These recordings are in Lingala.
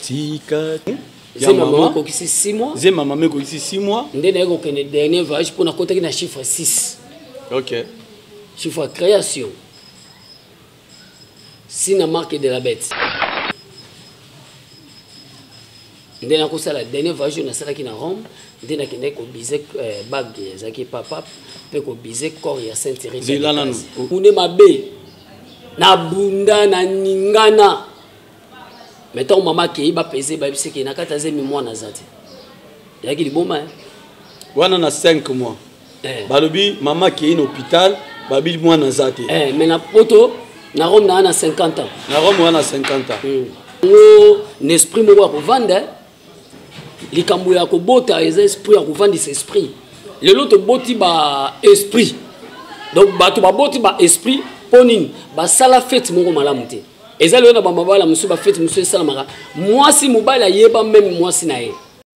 tika zema mama okokisi 6 mois zema mama ekokisi 6 mois nde naye kokende dernier voyage mpo nakotaki na chiffre 6 ok chiffre création sina marque de la bête nde nakosala dernier voyage oyo nasalaki na rome nde nakendaki kobise euh, bague ezalaki epa pape mpe kobise corps ya saint tereseune mabe nabunda na ningana me ntango mama akei bapeze bayebisi ekei na kati azemi mwana aza te eyaki liboma eh? wana na 5 mois eh. balobi mama akei na hôpital babi mwana aza te eh, mais na poto na rome naa na 50 ans na rome oa na 50 ans hmm. yango na esprit moko ya kovanda eh. likambo ya kobota eza esprit ya kovandisa esprit lelo toboti ba esprit donc bato baboti ba esprit mpo nini basala fete moko malamu te eza lelo na bamabala mosusu bafete mosusu esalamaka mwasi mobali ayeba meme mwasi na ye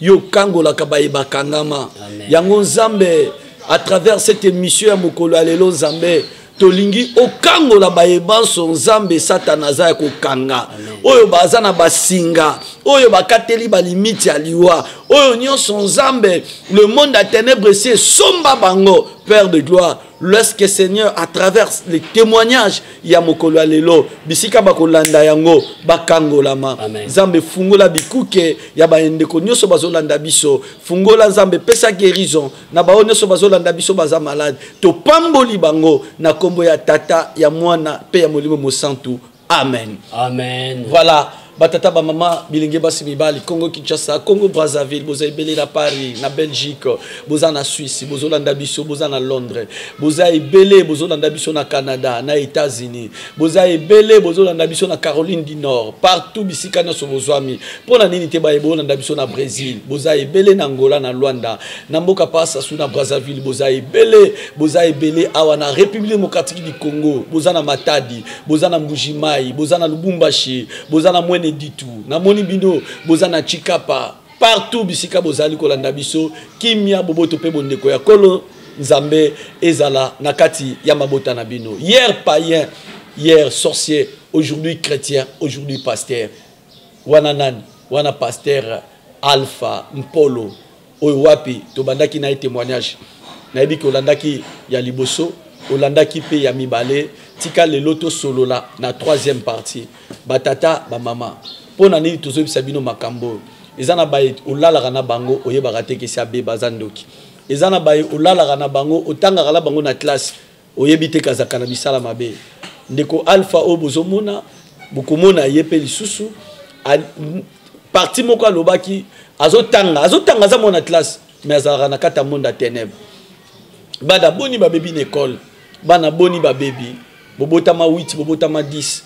yo okangolaka baye bakangama yango nzambe à travers cette émission ya mokolo ya lelo nzambe tolingi okangola baye banso nzambe satana aza ya kokanga oyo baza na basinga oyo bakateli balimiti ya liwa oyo nyonso nzambe le monde ya ténèbre esi esomba bango père de gloire lorsque seigneur à travers les témoignages ya mokolo ya lelo bisika bakolanda yango bakangolama nzambe fungola bikuke ya bandeko nyonso bazolanda biso fungola nzambe pesa guérison na baoyo nyonso bazolanda biso baza malade topamboli bango na nkombo ya tata ya mwana mpe ya molimo mosantu amen amen voilà batata bamama bilenge basi mibali congo kinshasa congo brazzaville boza ebele na paris na belgique boza na suisse bozolanda biso boza na londres boza ebele bozolanda biso na canada na états-unis boza ebele bozolanda biso na caroline du nord partout bisika nyonso bozwami mpo na nini te baye bolanda biso na brésil boza ebele na angola na luanda na mboka pasasu na brazzaville boza ebele boza ebele awa na république démocratique du congo boza na matadi boza na mbujimai boza na lubumbashi boza na mwene ditu namoni bino boza na chikapa partout bisika bozali kolanda biso kimia boboto mpe bondeko ya kolo nzambe ezala na kati ya mabota na bino hier païen hier sorcier aujourd'hui chrétien aujourd'hui pasteur wana nani wana pasteur alpha mpolo oyo wapi tobandaki na ye témoignage nayebi ke olandaki ya liboso olandaki mpe ya mibale tika lelo tosolola na troisième partie batata bamama mpo na nini tozoyebisa bino makambo oyo eza na baye olalaka na bango oyebaka te kesi abeba aza ndoki eza na baye olalaka na bango otangaka na bango na classe oyebi te kazaka na bisala mabe ndeko alpha oyo bozomona bokomona ye mpe lisusu parti moko alobaki azotanga azotanga aza mwana classe mais azalaka na kati ya monde ya ténèbre bana boni babebi na ekole bana boni babebi bobotama 8 bobotama 10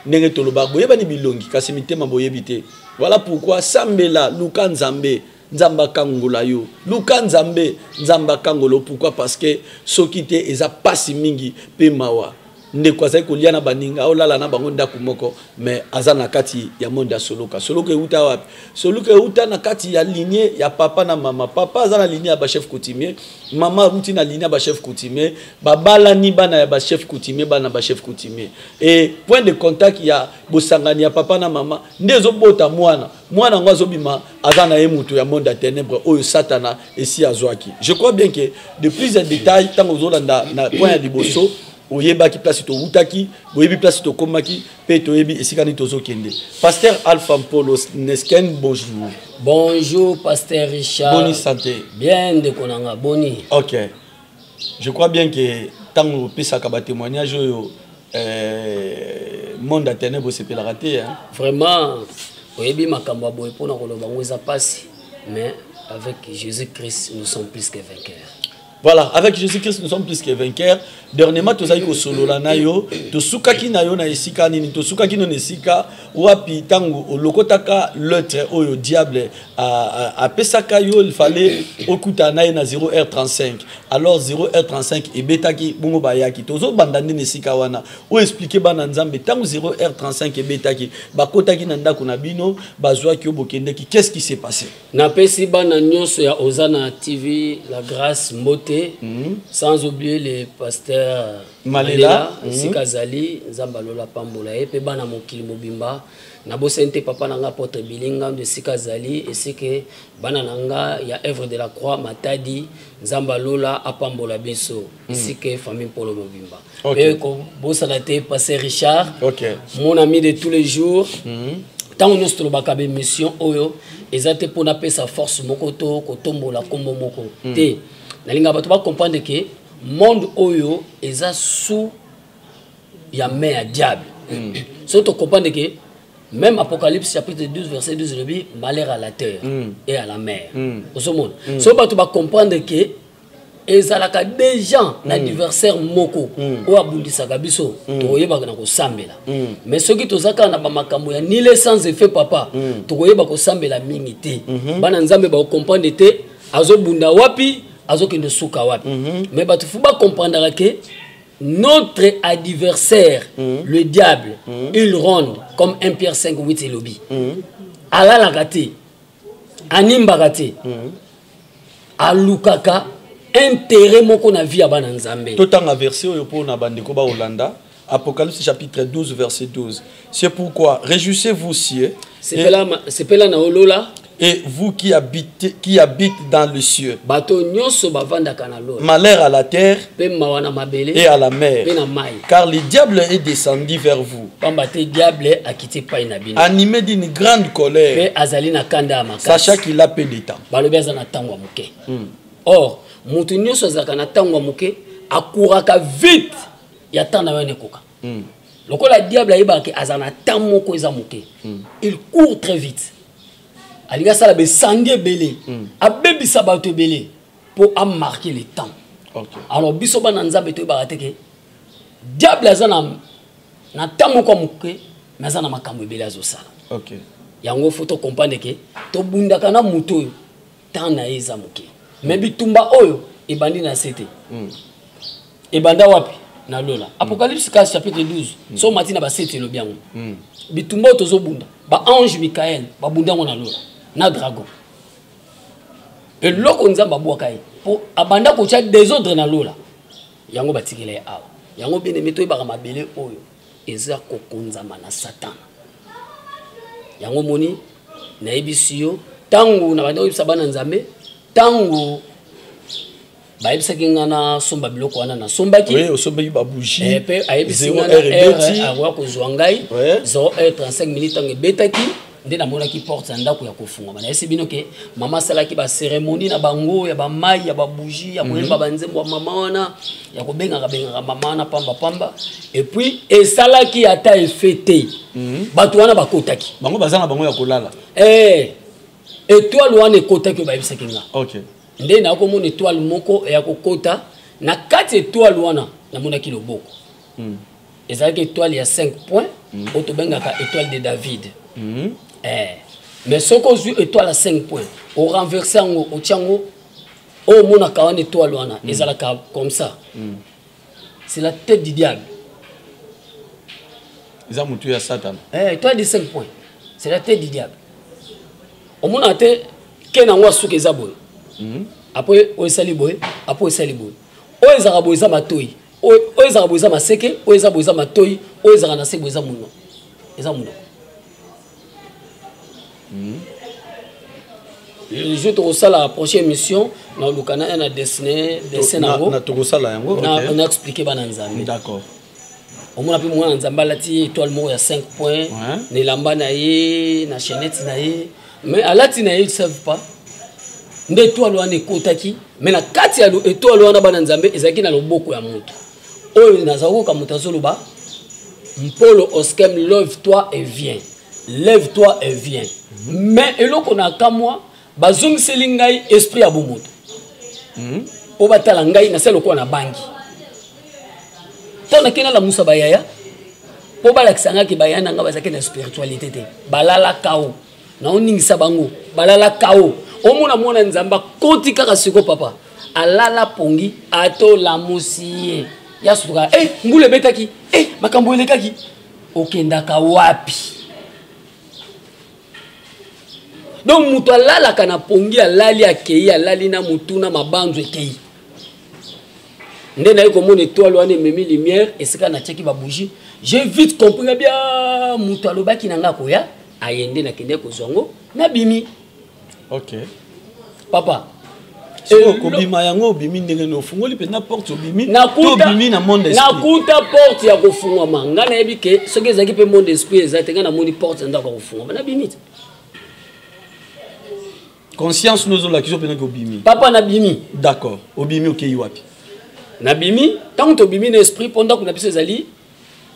ndenge tolobaka boyebani bilongi kasi mitema boyebi te voilà pourquoi sambela luka nzambe nzambe akangola yo luka nzambe nzambe akangola yo pourkui parce que soki te eza mpasi mingi mpe mawa ndeko azali kolia na baninga olala na bango ndako moko mais aza na kati ya monde ya soloka soloka euta wapi soloka euta na kati ya linie ya papa na mama papa aza na linie ya bachef coutumier mama aruti na linie ya bachef coutumier babalani bana ya bachef coutumier bana bachef coutumier e point de contact ya bosangani ya papa na mama nde ezobota mwana mwana yango azobima aza na ye moto ya monde ya ténèbre oyo satana esi azwaki je crois bien que de plus en détail ntango ozolanda na point ya liboso oyebaki place towutaki boyebi place tokomaki mpe toyebi esika nini tozokende pasteur alpha mpolo nesken bonjour bonjour pasteur richard boni santé bien ndeko na nga boni ok je crois bien que ntango opesaka batémoignage oyo euh, monde ya ténèbre osepelaka te hein? vraiment oyebi makambo ya boye mpona koloba yango eza mpasi mais avec jésus christ nous sommes plus que vainqueurs voilà avec jésus christ nous sommes plus que vainqueurs dernièrement tozalaki kosolola na yo tosukaki na yo na esika nini tosukaki no na esika wapi ntango olokotaka leutre oyo diable apesaka yo fale okutana na ye na 0 heure 35 alors 0 heure 35 ebetaki bongo bayaki tozobanda nde na esika wana oyo explike bana nzambe ntango 0 heure 35 ebetaki bakotaki na ndako na bino bazwaki yo bokendeki qu'est ce qui s'est passé napesi bana nyonso ya ozana tv la grâce mbote mm -hmm. sans oublier le pasteur malela mhm. esika azali nzambe alola apambola ye mpe bana mokili mobimba nabosani te papa na nga apotre bilingandu esika azali esike bana na nga ya œuvre de la croix matadi nzambe alola apambola biso mhm. esike famille mpolo mobimba mpe kobosana te passe richard mon ami de tous les jours mhm. ntango nyonso tolobaka bemission oyo eza te mpo napesa force moko to kotombola nkombo moko hmm. te nalingaka bato bacomprendre ke monde oyo eza sous ya main ya diable mm. soki tocomprendre ke même apocalypse chapitre 12 verset 12 elobi malheur à la terre mm. et à la mer mm. ozomona mm. soki bato bacomprendre ke ezalaka déjà mm. na diversaire moko mm. oyo abundisaka biso mm. tokoyebaka na kosambela mm. mais soki toza kaka na bamakambo ya nile sans effet papa mm. tokoyeba kosambela mingi te mm -hmm. bana nzambe bakocomprendre te azobunda wapi azokende suka wapi mm -hmm. mais bato fo bakomprendaka ke notre adversaire mm -hmm. le diable mm -hmm. il ronde comme un pierre 5 8 elobi mm -hmm. alalaka te animbaka te mm -hmm. alukaka intérêt moko na vie ya bana nzambe totanga verse oyo mpo na bandeko baolanda Apocalypse chapitre 12 verset 12. C'est pourquoi réjouissez-vous cieux. Sepela na olola. Et vous qui habitez, qui habite dans le cieux. Bato nyonso bavandaka na lola. Malheur à la terre. Pe mawa na mabele. Et à la mer. Pe na mai. Car le diable est descendu vers vous. Pamba te diable akiti pai na bino. Animé d'une grande colère. Pe azali na kanda ya makasi. Sachant qu'il a peu de temps. Balobi aza na tango ya moke. Hmm. Or, moto nyonso azalaka na tango ya moke, akuraka vite ya temps na yo nekoka mm. lokola diable ayebaka ke aza na temps moko eza moke mm. il court très vite alingi asala besangi ebele mm. abebisa bato ebele mpo amarke le temps okay. alors biso bana nzambe toyebaka te ke diable aza na na temps moko ya moke me aza na makambo ebele azosala okay. yango fo tocomprendre ke tobundaka na moto oyo temps na ye eza moke mais bitumba oyo ebandi na se te hmm. ebanda wapi na lola hmm. apocalypse kasi chapitre 12 hmm. so omati na basete elobi yango bitumba oyo tozobunda baange mikael babunda yango na lola na dragon eloko nzambe abwaka ye mpo abanda kotya desordre na lola yango batikela ye awa yango bien aime toyebaka mabele oyo eza kokonzama na satana yango moni nayebisi yo ntango na banda koyebisa bana nzambe ntango bayebisaki nga nasomba biloko wana nasombaki osombaki babougie mpe eh, ayebisi nga na heure akoya kozwa ngai 0 heure 35 minute ntango ebetaki nde namonaki porte ya ndako ya kofungwama nayesi bino ke mama asalaki baceremonie na bango ya bamai ya babougie ya koyemba mhm. banzembo ya mama wana ya kobengaka bengaka mama wana pamba pamba epuis esalaki ata efe te mhm. bato wana bakotaki bango baza na bango ya kolala eh, etoile wana ekotaki oyo bayebisaki nga nde nakomona etoile moko ya kokota na kati etoile wana namonaki loboko mhm. ezalaki étoile ya 5 points mm. oyo tobengaka étoile de david mm. eh. mais soki ozwi étoile ya 5 points orenverse yango otya yango oyo omonaka wana étoile wana mm. ezalaka comme ça mm. c'est la tête du diable eza motu ya satana eh, étoile de 5 points c'est la tête du diable omonaka te ke na yango asuka eza boye mm. apres oyo esali boye apres oyo esali boye oyo ezalaka boye eza matoi oyo ezaka boye eza maseke oyo eza boye eza matoi oyo ezaka na se boye eza mono eza mono hmm. jour tokosala prochaine émission na oluka na na dessine dessin na yango tokosala yango na expliquer bana nzambe d'accord omona mpe mwana nzambe alati étoile moko ya 5 point na elamba na ye na chainette na ye mais alati na ye savent pas nde étoile wana ekotaki me na kati ya etwale wana bana nzambe ezalaki na loboko ya moto oyo nazali koyoka moto azoloba mpolo oskem love toi et vien lève toi et vien mhm. me eloko na kamwa bazongiseli ngai esprit ya bomoto mhm. mpo batala ngai na se lokola na bangi mpo nakei nalamusa bayaya mpo balakisa ngai ke bayaya na ngai bazalaki na spiritualité te balalaka o naoningisa bango balala kao omona mwana nzambe akoti kaka siko papa alala pongi atolamusi ye ya sutuka e eh, mbula ebetaki e eh, makambo elekaki okendaka wapi donc moto alalaka na pongi alali akei alali na motu na mabanzo ekei nde naye komona etoile wana ememi lumière esika natiaki babougie j'ai vite compris na bia moto alobaki na ngai koya aye nde nakendeki kozwa yango nabimi ok papa kobima yango obimi ndenge nini ofungoli mpenza porte obimi obimi na monde nakuta porte ya kofungwama ngai nayebi ke soki ezalaki mpe monde esprit eza te ngai namoni porte ya ndako ya kofungwama nabimi te conscience no ezolakisa opendaki obimi papa nabimi d'accord obimi okei wapi nabimi ntango tobimi na esprit mpo ndako na biso ezali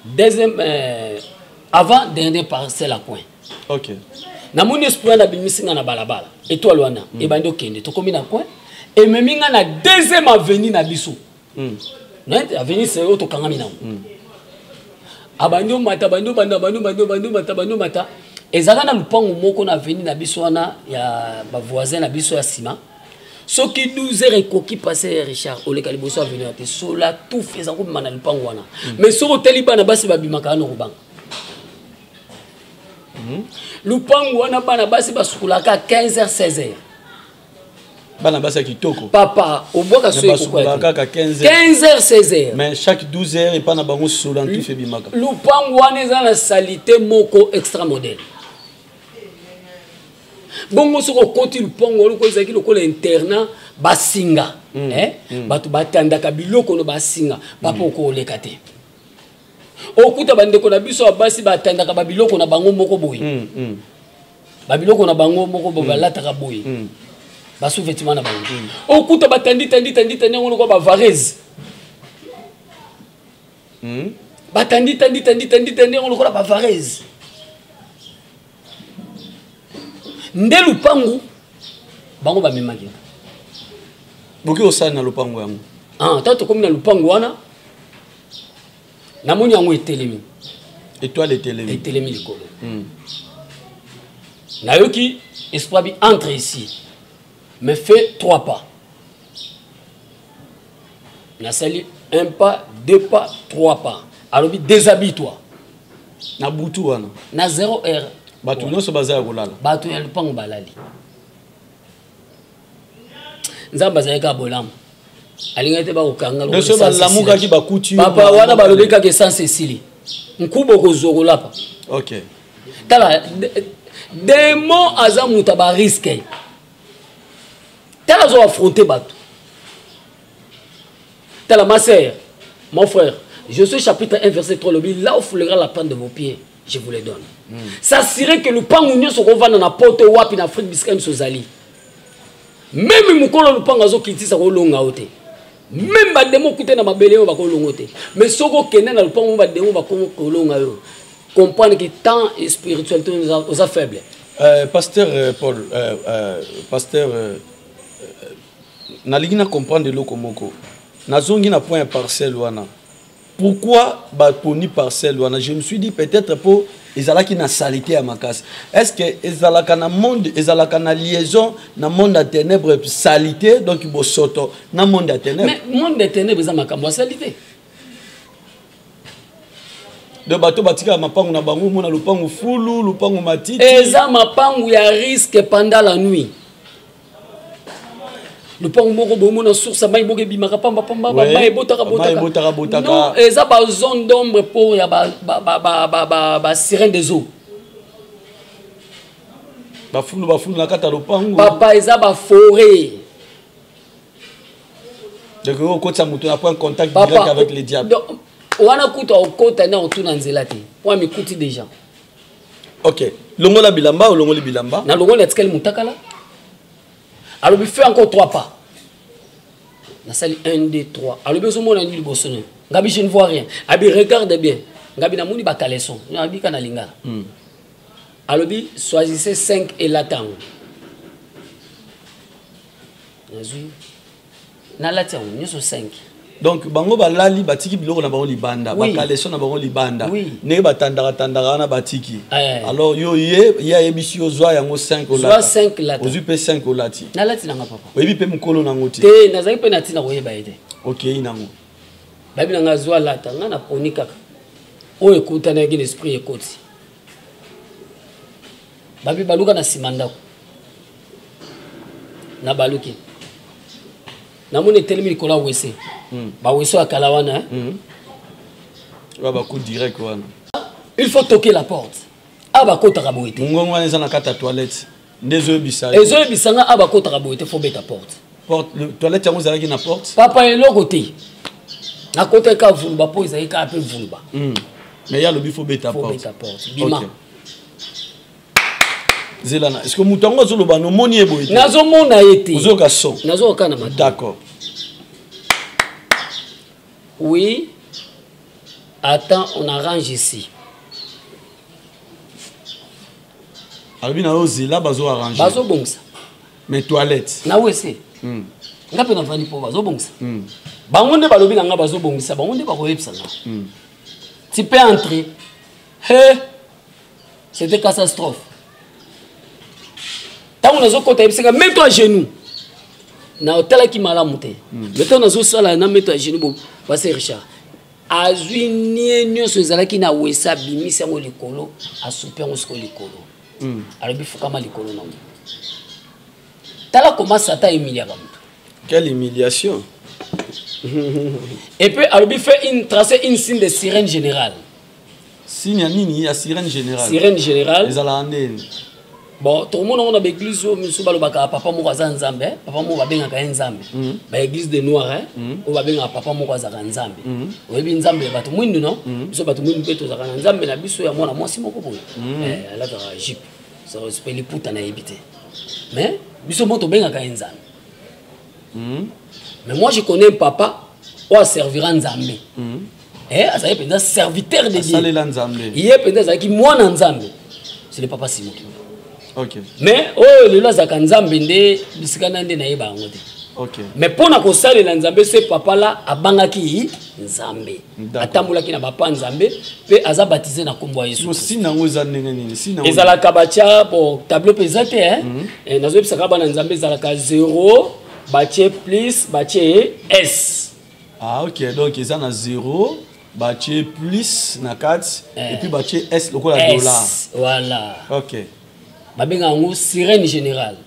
deuxième euh, avant dernier parcelle à coin ok namoni esprit wana abimisi ngai na balabala etoile wana mm. ebandi okende tokómi na coin ememi ngai na deuxième avenue na biso hmm. mais avenir c'est oyo tokangami nango hmm. abandi omata abandi obanda abandi obandi obandi omata abandi omata ezalaka na lupango moko na avenir na biso wana ya bavoisin na biso ya nsima soki 12 heures ekoki passe ya richard oleka liboso avenir te sola tuf eza kobima na lupango wana hmm. mais soki otali bana basi babimaka wana okobanga lupango wana bana basi basukolaka 15 heures 16 heures bana basi ya kitoko papa obwaka soyekaka 15 heures 16 heures mais chaque 12 heures epai na bango sola ntufi ebimaka lupangu wana eza na salite moko extra modèle bongo soki okoti lupangu wana oko ezalaki lokola internat basinga mm. eh? mm. bato batandaka biloko no basinga papa mm. okoleka te okuta bandeko na biso ya basi batandaka babiloko na bango moko boye mm. mm. babiloko na bango moko bo hmm. balataka boye hmm. basouvetima na bango hmm. okuta batandi tandi tandi tandi yango lokola bavarese batandi tandi tandi tandi tandi yango lokola bavarese nde lupangu bango bamemaki boki osali na lupangu yango ntango ah, tokomi na lupangu wana namoni yango etelemi etoile etelemi etelemi likolo mm. nayoki espoir bi entre ici mais fait trois pas nasali un pas deux pas trois pas alobi déshabille toi na butu wana na zero heure bato nyonso baza ya kolala bato ya lopango balali nzambe azali kaka bolamu alingaki te bakokanga biso balamukaki bakuti papa wana balobi kaka esanse esili nkuba okozwa kolapa okay. tala demon aza moto ya bariske tala azo affronte bato tala ma sœur mon frère je suis chapitre 1 verset 3 lobi là où foulera la pente de vos pieds je vous le donne mm. s'assurer que lupangu nyonso kovanda na poto wapi na afrique bisika nyonso ozali meme mokolo lupangu azokitisa kolonga yo te meme bademo kute na mabele yo bakolongo te mais soki okende na lupangu mo bademo bakolonga yo comprendre que temps et spiritualité oza faible euh, pasteur euh, paul euh, euh, pasteur euh, euh, nalingi na comprendre eloko moko nazongi na point ya parcelle wana pourquoi baponi parcelle wana je me suis dit peut-être mpo ezalaki na salite ya makasi est ce que ezalaka na monde ezalaka na liaison na monde ya ténèbre salite donc bosoto na monde ya ténèbre monde ya ténèbre eza makambo ya salite donc bato batikaka mapangu na bango omona lopangu fulu lopangu matiti eza mapangu ya risque pendant la nuit lopango moko bomona source ya mai moko ebimaka pamba pamba mai ebotaka botakano eza bazone d'ombre mpo ya basirene des eaux bafulu bafulu na kati ya lopango papa eza baforet donc okotisa moto na point contact direct avec le diable wana kutu akokota nde akotuna nzela te mpo amikuti déjà ok longola bilamba olongoli bilamba na longola atikali mutakala alobi fait encore trois pas nasali 1 2 3 alobi ozomona nini liboso nayo ngabi je ne vois rien abi regarde bien ngabi namoni bacaleson nabi ka na lingala mm. alobi choisissez 5 elata yango nazwi nalati yango nyonso 5 donc bango balali batiki biloko na bango libanda oui. bakaleso na bango libanda oui. ndenge batandaka tandaka wana batiki eh. alors yo ye ye ayebisi yo zwa yango 5 olata ozwi mpe 5 olati nalati nanga papa oyebi mpe mokolo nango te te nazali mpe na ntina koyeba ye te okei nango bayebi na ngai zwa lata ngai naponi kaka oyo ekutanaki na esprit ekoti babi baluka na nsima ndako na baluki namoni etelemi likolo ya wese hmm. bawese ya kala wana eh? hmm. babaku direct wana il faut toke la porte a bakotaka boye te ngongo wana eza na kati ya toilette nde ezoyebisa ezoyebisa nga a bakotaka boye te fo beta porte toilette yango ezalaki na porte papa eloko te nakotaki ka vuluba mpo ezalaki kaka mpe vuluba hmm. mais ye alobi fo beta porte bima zela na eske moto yango azoloba nomoni ye boye nazomona ye te ozoyoka son nazoyoka na mata d'accord oui attends on arrange ici alobi na yo zela bazo arrange bazobongisa mais toilette na wese mm. nga mpe nafandi mpo bazobongisa mm. bango nde balobi na nga bazobongisa bango nde bakoyebisa nga mm. ti mpe entre he hey. c'était catastrophe ntango nazokota yebisaka meto ya genou natalaki malamu te hmm. mais ntango nazosala na meto ya genou base richard azwi nie nyonso ezalaki na wesa abimisi yango likolo asupi yango siko likolo hmm. alobi fukama likolo nango tala koma satan emiliaka moto quelle humiliation et puis alobi fait une tracer une signe de sirène générale signe ya nini ya sirène générale sirène générale ezalaka nde bon tokomona ngo na baeglise oyo mosusu balobaka papa moko aza nzambe eh? papa moko babengaka ye nzambe mm. baeglise de noir eh? mm. oyo babengaka papa moko azalaka nzambe mm. oyebi nzambe ya bato mwindu no biso bato mwindu mpe tozalaka na nzambe na biso ya mwana mwasi moko boye eh, alataka jipe mpe liputa nayebi te mais biso mo tobengaka ye nzambe mm. mais moi je connais un papa oyo aservira nzambe mm. eh, azali mpenza serviteur de diesalela nzambe ye mpenza azalaki mwana nzambe c'est le papa simo okay. mais oyo oh, lelo azalaka nzambe nde bisika na nde nayeba yango te okay. mais mpo na kosalela nzambe se papa la abangaki nzambe atambolaki na bapa nzambe mpe aza batize na nkombo ya yesuezalaka batya bon tableau mpe eza te eh? mhm. eh, nazoyebisaka bana nzambe ezalaka 0 batye plus batye s ah ok donc eza na 0 batye plus na kati eh. epuis batye s lokola dollar voilà ok babenga yango sirène générale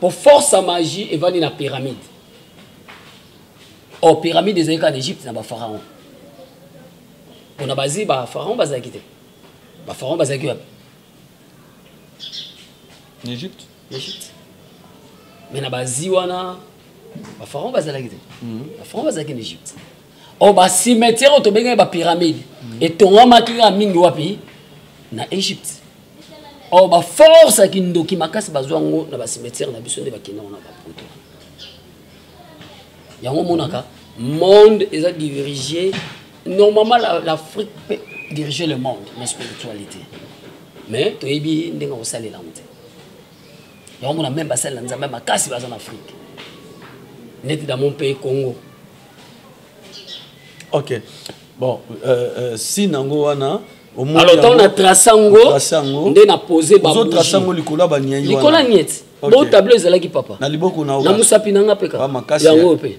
po force ya magie evandi na pyramide or oh, pyramide ezali kaka na egypte na bapharaon mpo na bazi bapharaon bazalaki te bapharaon bazalaki wapi na egypte Egypte. Mais na bazi wana ba pharaon bazalaki te. Mhm. Ba pharaon bazalaki na Egypte. O oh, ba cimetière oyo tobengaki ba pyramide mhm. etongamaki kaka mingi wapi na Egypte. O oh, ba force ya kindoki makasi bazwa yango na ba cimetière na biso nde bakenda wana ba poto. Yango omonaka monde eza dirigé normalement l'afrique peut diriger le monde na spiritualité mais toyebi ndenge akosalela yango te yango mona meme basalela nzambe makasi baza na afrique neti dans mon pays congo ok bon euh, euh, si nango wana alors ntango na trace yango nde na pose batrace yango likolo ya baniai likolo ya nieti bo tableau ezalaki papa na liboko na mosapi na nga mpe kaka yango oyo mpe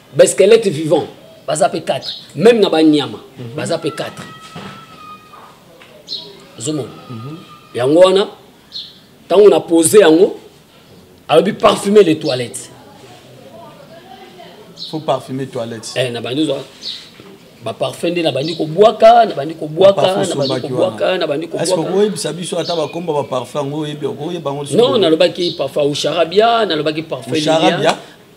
ba squelette vivant baza pe 4 même na ba nyama mm -hmm. baza pe 4 ozomona mm -hmm. yango wana ntango na pose yango alobi parfumer les toilettes faut parfumer toilettes eh, na bandi ozwa baparfum nde nabandi kobwaka nabandi kobwaka nabandi kobwaka nabandi kobwakaoyebisa biso ata bakomba baparfum yango oyebi okoyeba yango non nalobaki parfum usharabia nalobaki parfum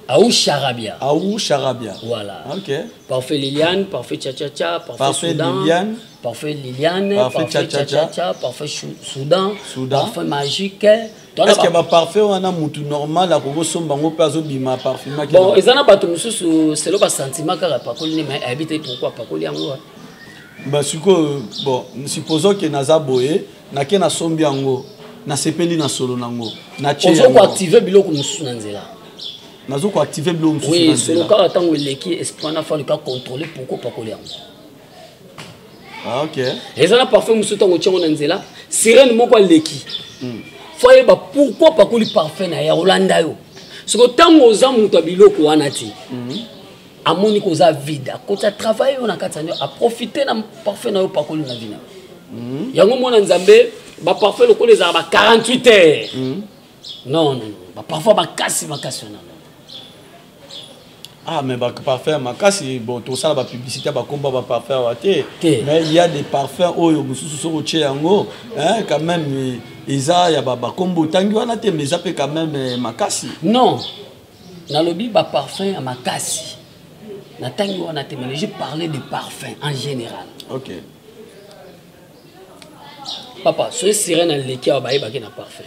Aou Charabia. Aou Charabia. Voilà. Ok. Parfait Liliane, parfait Cha Cha Cha, parfait, parfait Soudan. Liliane. Parfait Liliane, parfait, parfait Cha Cha Cha, parfait Soudan, Soudan, parfait magique. Est-ce que ba parfait wana mutu normal akoki somba ngo pe azobima parfuma ki Bon, eza na bato mosusu selo ba sentiment kaka pakoli ne mais ayebite pourquoi pakoli yango. Ba siko bon, supposons que naza boye nake nasombi yango nasepeli na solo nango naozokoactive biloko mosusu na nzela nazo koactive biloko mosusu solo kaka ntango eleki esprit wana fali ka contrôle pourkoi pakoli yango ah, eza na parfum mosusu ntango otyango na nzela sirene moko aleki hmm. fo ayeba pourkoi pakoli parfum na ye olanda yo soko ntango oza moto ya biloko wana te mhm. amoni koza vide akota travail oyo na kati ya nio aprofite na parfum na yo pakoli na vina mm. yango mwana nzambe baparfum lokola ezala ba 48 heures mm. non non baparfum makasi makasi wana ah mais baparfum makasi bon tosala bapublicité ya bakomba baparfum awa te mais il y a des parfums oyo mosusu soki otye yango quand même eza ya bakombo otangi wana te mais eza mpe quand même eh, makasi non nalobi ba parfum ya makasi na tangi wana te mais je parlais de parfum en général ok papa soki sirene aleki awa bayebaki na parfum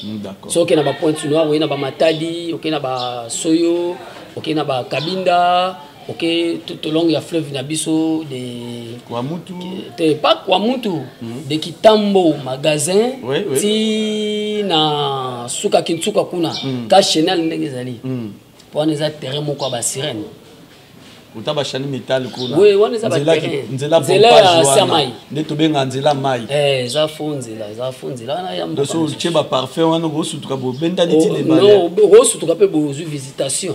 hmm, soki okei na bapointe noir okei na bamatadi okei na basoyo okei na bakabinda ok tout au long ya fleuve na biso de kwamutu te pas kwamutu mm. de kitambo magasin oui, oui. ti na suka kinsuka kuna mm. ka chenal ndenge ezali mm. po wana eza terrain moko ya basirene uta bashani mitali kuna oui, wana eza nzela nzela ya samai nde tobenga nzela mai eh, eza fo nzela eza fo nzela wana ya mboka so otie baparfum wana okosutuka bobendani ti oh, lebale okosutuka mpe bozwi visitation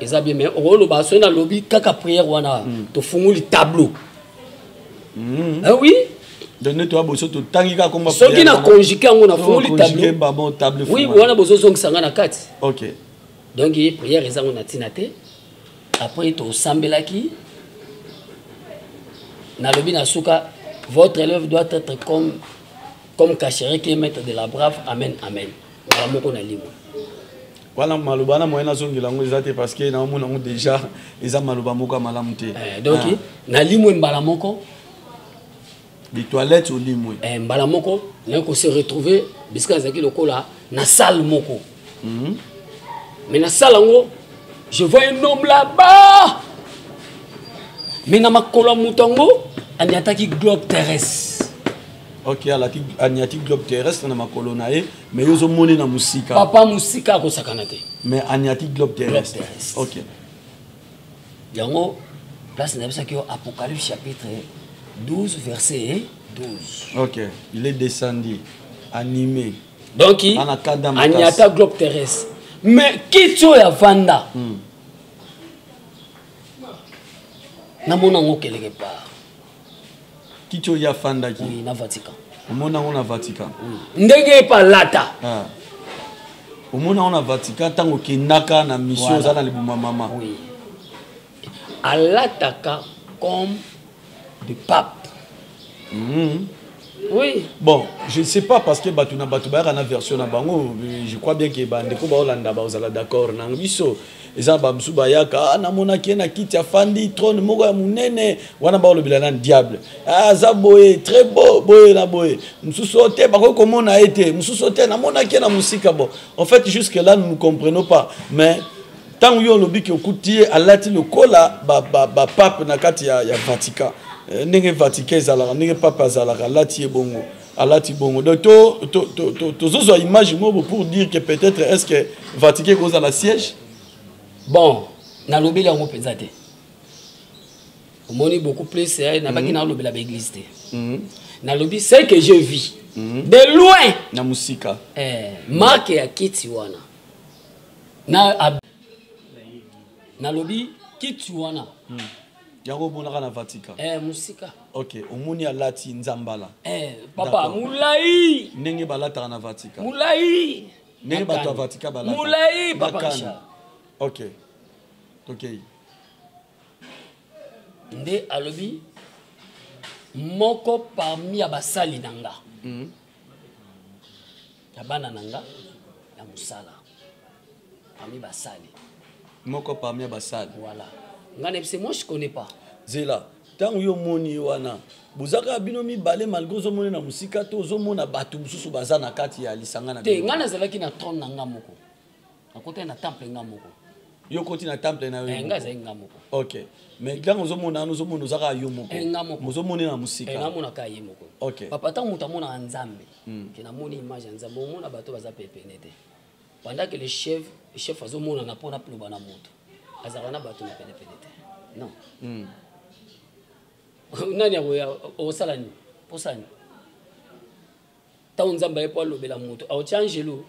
eza bien mais okoloba soki nalobi kaka prière wana hmm. tofungoli tableau hmm. ah oui donne toi boso totangi kaka komba soki na conjugue yango nafungoli tableau oui wana bozozongisa ngai na kati ok donc ye prière eza ngo na ntina te après tosambelaki nalobi na suka votre élève doit être comme comme cachere qui est maître de la brave amen amen mbala moko na limwa wana maloba na moyen nazongela yango eza te parce que naomona yango déjà eza maloba moko ya malamu te eh, donc ah. na limwe mbala moko bitoilette olimwe eh, mbala moko naye kose retrouve bisika nazalaki lokola na salle moko mm. mais nasala yango je vois un homme là-bas mais na makolo ya moto yango aniataki globe terrestre ok alaki aniati globe terrestre na makolo na ye mais yo ozomoni na mosika papa mosika akosakana te mais aniati globe terrestre ok yango place nayebisaki yo apocalypse chapitre 12 verset 12 ok il est descendu animé donc anyata globe terrestre mais kiti oyo avanda hmm. namona yango keleke part kiti oyo afandaki oui, na vatican omona yango na vatican oui. ndenge epa alata ah. omona yango na vatican ntango okendaka na mission oza voilà. na libuma mama oui. alataka comme de pape mm. oui bon je ne sais pas parce que bato na bato bayaka na version na bango je crois bien ke bandeko baolanda baozala d'accord na biso eza bamosusu bayaka ah, namonaki ye na kiti afandi trone moko ya monene wana baolobela nani diable ah, aza boye très beau boye na boye mosusu oyo te bakoki komona ye te mosusu oyo te namonaki ye na mosika bon en fait jusque là nous ne comprenons pas mais Tango yo olobi ke okuti ye alati lokola ba ba, ba pape na kati ya, ya Vatican eh, ndenge Vatican ezalaka ndenge pape azalaka alati ye bongo alati bongo donc tozozwa to, to, to, to, to image moko pour dire que peut-être est ce que vatiqué koza na siège bon nalobeli yango mpenza te omoni beaucoup plus eh, nabaki mhm. nalobela baeglise te mhm. nalobi ce que je vis mhm. de loin na mosika eh, marke ya kiti wana na nalobi kiti wana hmm. yango omonaka na vatican eh, mosika ok omoni alati nzambala eh, papa molai ndenge balataka na vatican molai ndenge bato ya vatican balata molai papa ok tokei nde alobi moko parmi ya basali na nga mm -hmm. ya bana na nga ya mosala parmi basali moko parmi ya basali voilà nga na bise moi je connais pas zela ntango yo omoni ye wana bozaka bino mibale malgre ozomona na mosika to ozomona bato mosusu baza na kati ya lisanga na te ngai nazalaki na trone na ngai moko nakotaki na temple nga moko yo koti na temple na yo eh, nga azali nga moko ok mais ntango ozomona wana ozomona oza kaka yo moko eh, ozomonela na mosika eh, namonaka ye moko papa ntango moto amonaka nzambe hmm. ke namoni image ya nzambe omona bato baza pepene te pendant que le chef chef azomonana mpo na loba na moto azalaka na bato na penepene te non hmm. nani akoya osala nini osala nini ntango nzambe aye mpo alobela moto aotya angelo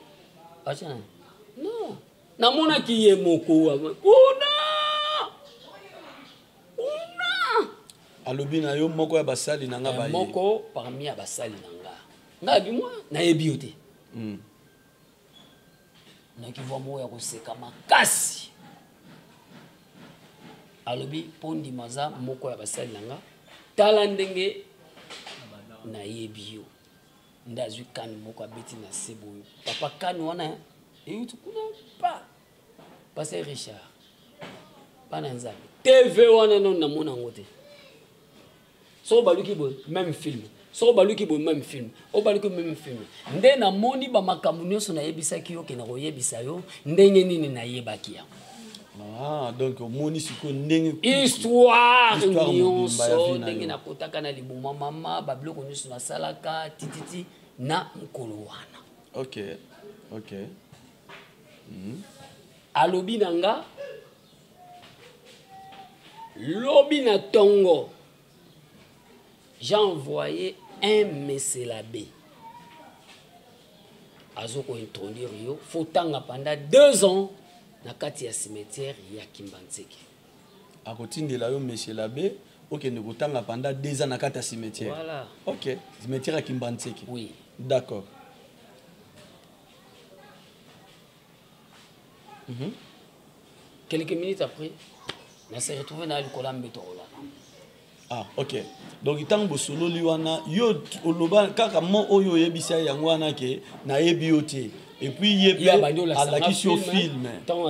atya non namonaki ye moko kuna kuna alobi na yo moko ya basali na nga eh, baye moko parmi ya basali na nga nga abimwa nayebi yo te hmm. naki vwa moko ya koseka makasi alobi mpo ndima aza moko ya basali na nga tala ndenge nayebi yo nde azwi kani moko abeti na se boyo papa kani wana euti kuna pa pase richard bana nzambe tv wana nano namona yango te soko baluki boye meme film soko baluki boye meme film oyo baluki meme film nde namoni bamakambo nyonso nayebisaki yo kena koyebisa yo ndenge nini nayebaki yango Ah, donc omoni sikoyo ndenge histoire nyonso ndenge nakotaka na liboma mama babiloko nyonso nasalaka tititi na mokolo wana ok ok mm. alobi na nga lobi na tongo j'ai envoyé un meselabe azo kointroduire yo fo tanga panda deux ans na kati ya cimetière ya kimbanseke akotindela yo meselabe okende kotanga panda deux ans na kati ya cimetière voilà. ok cimetière ya kimbanseke oui d'accord mm -hmm. quelques minutes après na se retrouve na likolo ya mbeto kolaka ah ok donc ntango bosololi wana yo oloba kaka mo oyo oyebisi ya yango wana ke nayebi yo te epuis ye pe alakisi yo filme ntango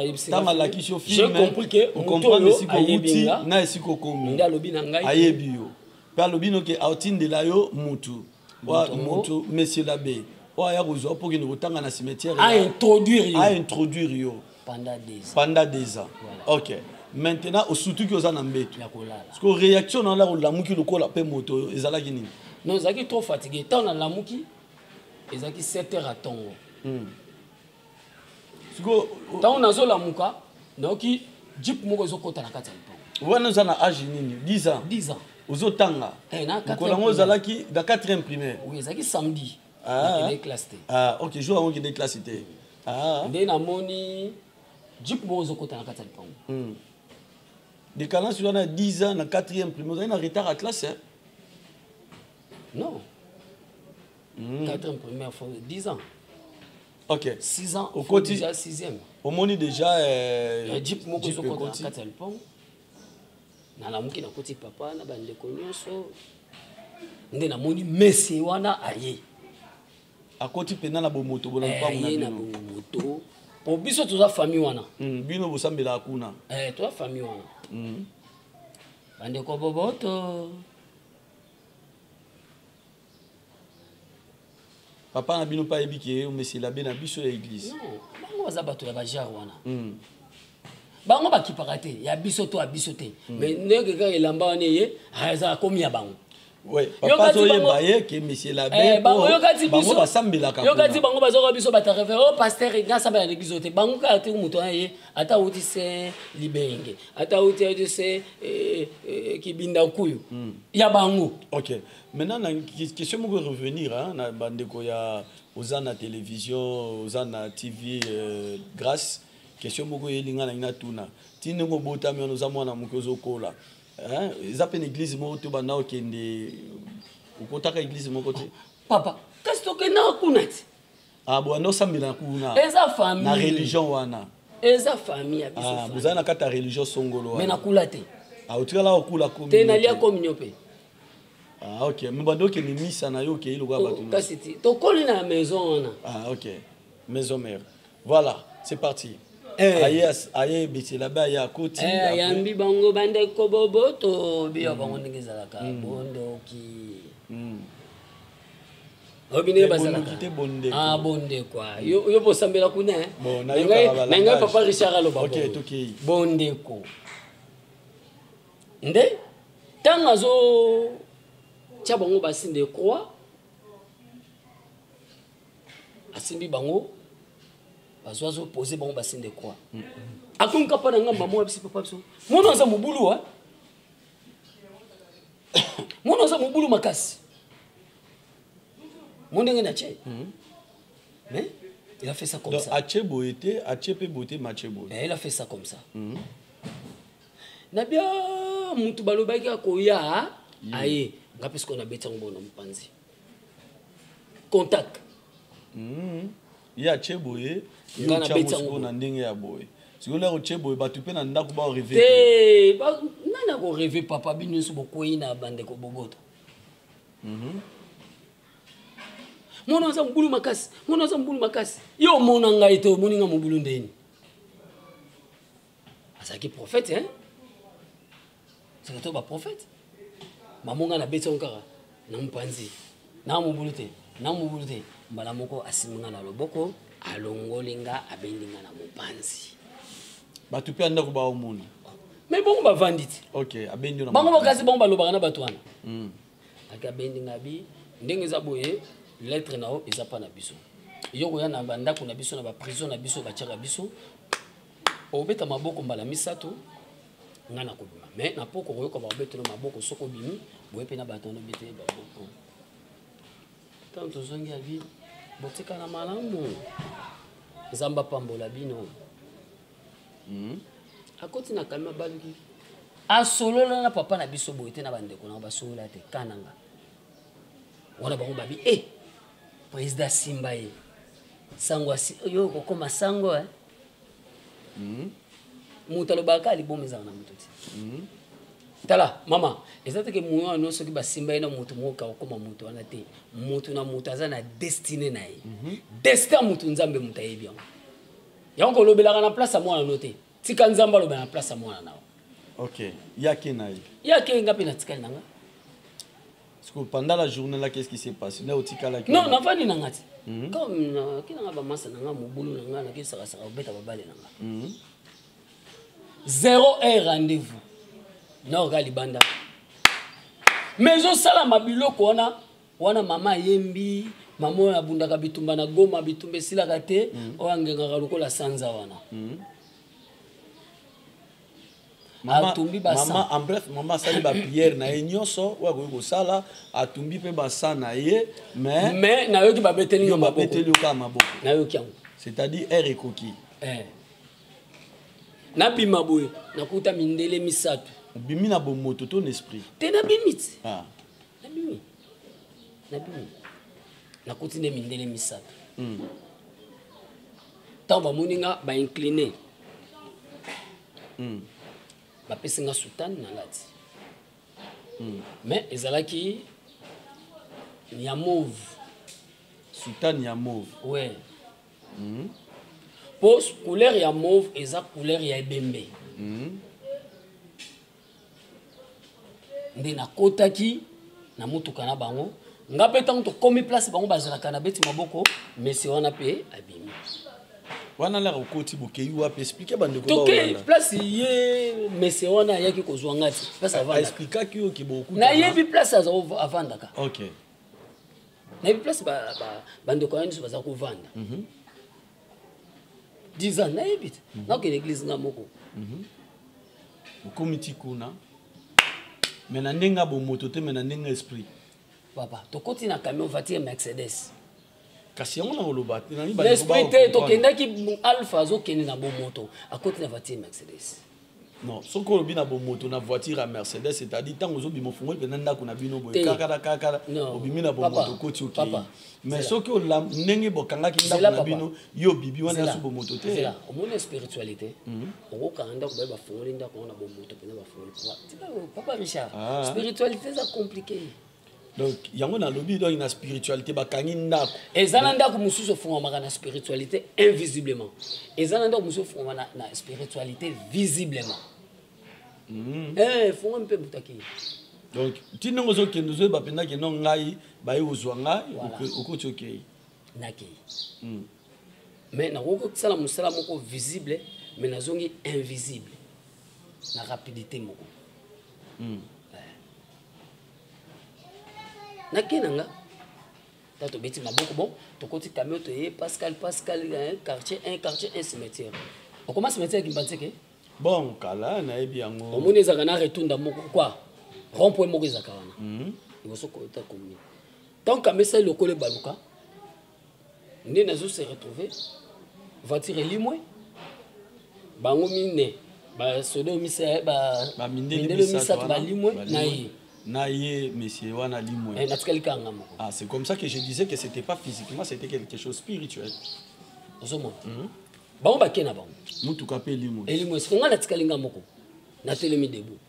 alakisi yo filmeokomprendre esika outi na esika okomi ayebi yo mpe alobi noke aotindela yo mutu wa mutu monsieur l'abbé oyo aya kozwa mpo kende kotanga na cimetière a introduire yo a introduire yo pendant des ans pendant des ans voilà. ok maintenant osutuki oza na mbetu siko réaction na olaka olamuki lokola mpe moto oyo ezalaki nini non ezalaki trop fatigué ntango nalamuki ezalaki 7 heures ya ntongo hmm. ntango nazolamuka nayoki jip moko ezokota na kati ya lipango wana oza na age nini 10 ans 10 ans ozotanga eh, mokolo yango ozalaki na 4e primaire oui ezalaki samedi ah. classe te ah, ok jour yango okende classe te ah. nde namoni jip moko ezokota na kati ya lipango hmm. dekalance wana 10 ans na 4e primaire ozali na retard ya classe non mm. quatrième première fois 10 ans ok 6 ans okoti déjà sixième omoni déjà euh, jeep moko ezokota kati ya lipango nalamuki nakoti papa na bandeko nyonso nde namoni mese wana aye akoti mpenza na bomoto bona lipango eh, na bomoto po biso toza famille wana mm, bino bosambelaka kuna eh, toza famille wana mm. bandeko boboto papa na bino mpe ayebi ke omesela be na biso ya eglise bango baza bato ya bajare wana hmm. bango bakipaka te ya biso to ya biso te hmm. mais ndenge kaka elamba wana eye ah, eza akomi ya bango yokati bango bazoka biso batarefere o oh, paster nasambela na eglise oyo te bango kaka te moto wana ye ata auti se libenge ata auti auti se eh, eh, kibinda nkuyu hmm. ya bango maintenant na question moko revenir hein, na bandeko ya oza na télévision oza na tv euh, grâce question moko eyeli ngai nangi natuna ti ndenge obotami wana oza mwana moke ozokola hein? eza mpe na église moko te obanda okende okotaka église moko te papa kasi tokendaka kuna ti ah, bwanda osambela kuna eza famille na religion wana eza famille ya biso ah, bozali na kati ya religion songolo wana me nakula te ah, otikala okula komi te nalia kominio mpe Ah, ok me bando okende misa na yo okei lokola bato kasi ti tokoli na maison wana ah, ok maison mère voilà c'est parti eh. aye aye ebetela be aye akoti eh, ayambi bango bandeko boboto biyo hmm. bango ndenge ezalaka hmm. bondoki hmm. oyebi ndenge bazalakate ah, bondeko ah. yo bosambela kuna eh? na ngai papa richard aloba bondeko nde ntango azotya bango basine de croix asimbi bango bazo azopose bango basine de croix akomi kapa na ngamba moko abisi papa biso mono aza mobulu a mono aza mobulu makasi mo ndenge na tie hmm. mais il a fait ça comme ça atie boye te atie mpe boye te ma tie boye eh, il a fait ça comme ça hmm. na bia mutu balobaki akoya aye nga mpe sikoyo nabeti yango bona mopanzi contact hmm. ye atye boye yotyangosiko na ndenge ya boye sikoyo lero otye boye bato mpe na ndako baoreve te nani akoreve papa bino nyonso bokwei na bandeko boboto mhm. mwana aza mobulu makasi mwana aza mobulu makasi yo omona ngai te omoni ngai mobulu ndeni azalaki prophète hein saka to baprophète mamo ngai nabeti yango kaka na mopanzi na mobulu te na mobulu te mbala moko asimbi ngai na loboko alongoli nga abendi nga na mopanzi bato mpe ya ndako baomona me bongo bavandi te bango bakasi bango balobaka na bato wana hmm. ake abendi nga bi ndenge eza boye lettre na yo eza mpa na biso yo koya na bandako na biso na baprison na biso batyaka biso obeta maboko mbala misato ngai nakobima me na poko okoyoka bakobetela maboko soki obimi boye mpe na bato wana obetele maboko ntango tozongi abi botikala malamu nzambe apambola bino hmm? akoti na kalima baluki asolola na papa na biso boye te na bandeko na basolola te kananga wana bango babi e eh, président asimba ye sango yo okokoma sango eh? Mhm. moto alobaka kaka liboma ezalaka na moto te mhm. tala mama eza teke moyo wana nyonso soki basimba ye na moto moko kakokoma moto wana te moto na moto aza na destine na ye mhm. destin ya moto nzambe moto ayebi yango yango kolobelaka na place ya mwana no te tika nzambe alobela na place ya mwana na yo ok yake na ye yake nga mpe natikali na nga sikoyo pendant la journée là qu'est-ce qui s'est passé na otikalaki non nafandi na nga ti mhm. comme naki na nga bamasa na nga mobulu na nga naki sakasaka kobeta babale na nga mhm. zéro heure rendez-vous naoka libanda mais ezosalama biloko wana wana mama ayembi mama oyo abundaka bitumba na goma bitumba esilaka te mhm. oyo angengaka lokola sanza wana atumbi basama en bref mama asali bapriere na ye nyonso oyo akoki kosala atumbi mpe basa na ye mais mais nayoki babeteli yo babeteli yo kaka maboko nayoki yango c'est-à-dire heure ekoki eh. nabima boye nakuta mindele misato obimi na bomoto to na esprit te nabimi ti ah. nabimi nabimi nakuti nde mindele misato ntango hmm. bamoni nga baincline mm. bapesi nga soutane nalati mm. mais ezalaki ya move soutane ya move ouais. mm. po couleur ya move eza couleur ya ebembe mm. nde nakotaki na motuka na bango nga mpe ntango tokomi place bango bazalaka na beti maboko mese wana mpe abimi wana laka okoti bokei wapi explike bandekotokei place ye mese wana ayaki kozwa nga ti place avandakaexplikaki yo kiboku nayebi place aza avandaka ok nayebi place bandeko ba, ba, ba, ya nyonso baza kovanda mm -hmm. 10 ans nayebi te mhm. nakokende église nga moko mhm. okomi ti kuna me na ndenge ya bomoto te me na ndenge ya esprit papa tokoti na camion voiture mercedes kasi yango na koloba l'esprit te tokendaki alpha azokende na bomoto akoti na voiture mercedes non soki olobi na bomoto na voiture ya mercedes c'est-à-dire ntango ozobima ofungoli mpenza ndako na bino boye kakala kakala obimi na bomoto okoti okei mais soki olam ndenge bokangaki ndako na bino yo obibi wana yasu bomoto te omoni spiritualité mhm. okokanga ndako baye bafungoli ndako yango na bomoto mpenza bafungoli papa richard ah. spiritualité eza compliqué donc yango nalobi donc na spiritualité bakangi ndako eza na ndako mosusu efungamaka na spiritualité invisiblement eza na ndako mosusu efungama na, na spiritualité visiblement mm. eh, efungami mpe butaki donc ti ndenge ozokende ozoyeba mpenza keno ngai baye kozwa ngai okoti okei nakei mm. mais nakoki kosala mosala moko visible mais nazongi invisible na rapidité moko mm. na ke na nga ntango tobeti maboko bon tokoti camion toye pascal pascal quartier un quartier un cimetière okoma cimetière kimbanzeke bon kala nayebi yango omoni ezalaka na retunda moko kua rond point moko ezalaka wana mhm. liboso kota commune ntango kamesali lokola ebaluka nde nazo se retrouver voiture elimwe bango mine basoda mindele misato balimwe na ye na ye monsieur wana limwe eh, natikali kanga moko ah, c'est comme ça que je disais que c'était pas physiquement c'était quelque chose spirituel ozomona mm -hmm. bango bake na bango motuka mpe elimwe elimwe soki ngai natikali ngai moko natelemi debout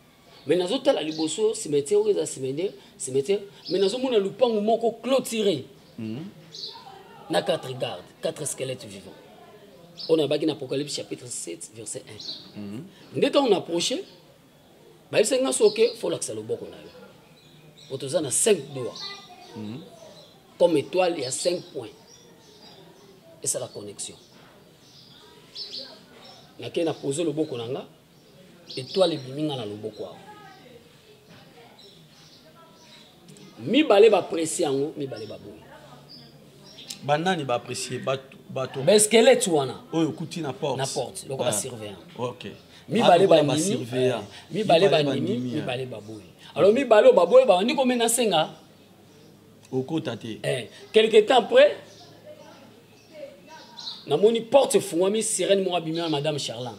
mais nazotala liboso cimetière oyo eza cimetière cimetière mais nazomona lupangu moko clôturé mm. na quatre garde quatre squelette vivant oyo nayebaki na apocalypse chapitre 7 verset 1 mm. nde ntango na approche bayebisaki nga soke folakisa loboko na yo po toza na 5 doa mm. comme étoile ya 5 point esala connexion nakei na pose loboko na nga etoile ebimi nga na loboko awa mibale bapresi yango mibale baboyi banani baapresie bato baeskelete wana oyo okuti na porte na porte loko basurveillant ah, ok mibale ah, bandimi eh, mibale bandimi eh. mibale baboyi alors mibale oyo baboyi babandi komena asenga okota te eh, quelque temps après namoni porte efungwami sirene moko abimi na madame charlande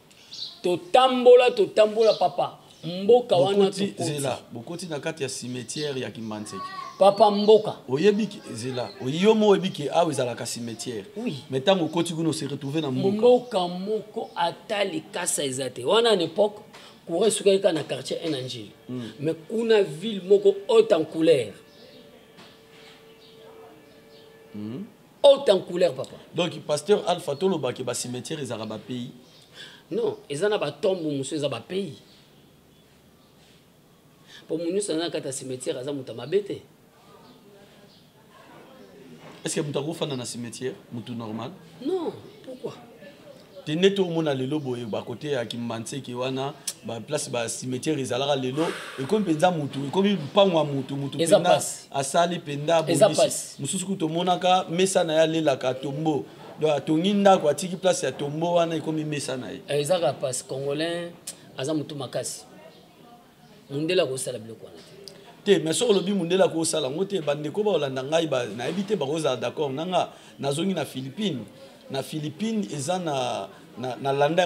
Totambola totambola papa. Mboka wana bokoti zela bokoti na kati ya cimetière ya Kimbanseke. Papa mboka. Oyebi zela oyo mo oyebi ke awa ezalaka cimetière. Oui. Mais ntango okoti kuna se retrouver na mboka. Mboka moko ata likasa eza te. Wana na époque courant esukaki kaka na quartier un na Njili. Mm. Mais kuna ville moko haute en couleur. Mm. haute en couleur papa donc pasteur alpha tolobake bacimetière ezalaka bapays non eza na batombo mosusu eza bapays mpo moto nyonso aza na kati ya cimetière aza moto ya mabe te est ce que moto akofanda na cimetière moto normal non pourquoi te nde tomona lelo boye bakote ya kimbanseke wana baplace bacimetiere ezalaka lelo ekomi mpenza mutu ekomi lupango ya mutu mutu mpenza asali mpenza bobisi mosusu kutu omonaka mesa na ye alelaka tombo donc atongi ndako atiki place ya tombo wana ekomi mesa na ye eh, ezaka pasi congolais aza motu makasi mundele akosala biloko wana te te mais soki olobi mundele akosala yango te bandeko baolanda ngai nayebi te bakozala d'accord na nga nazongi na philippine na philippine eza na, na, na landa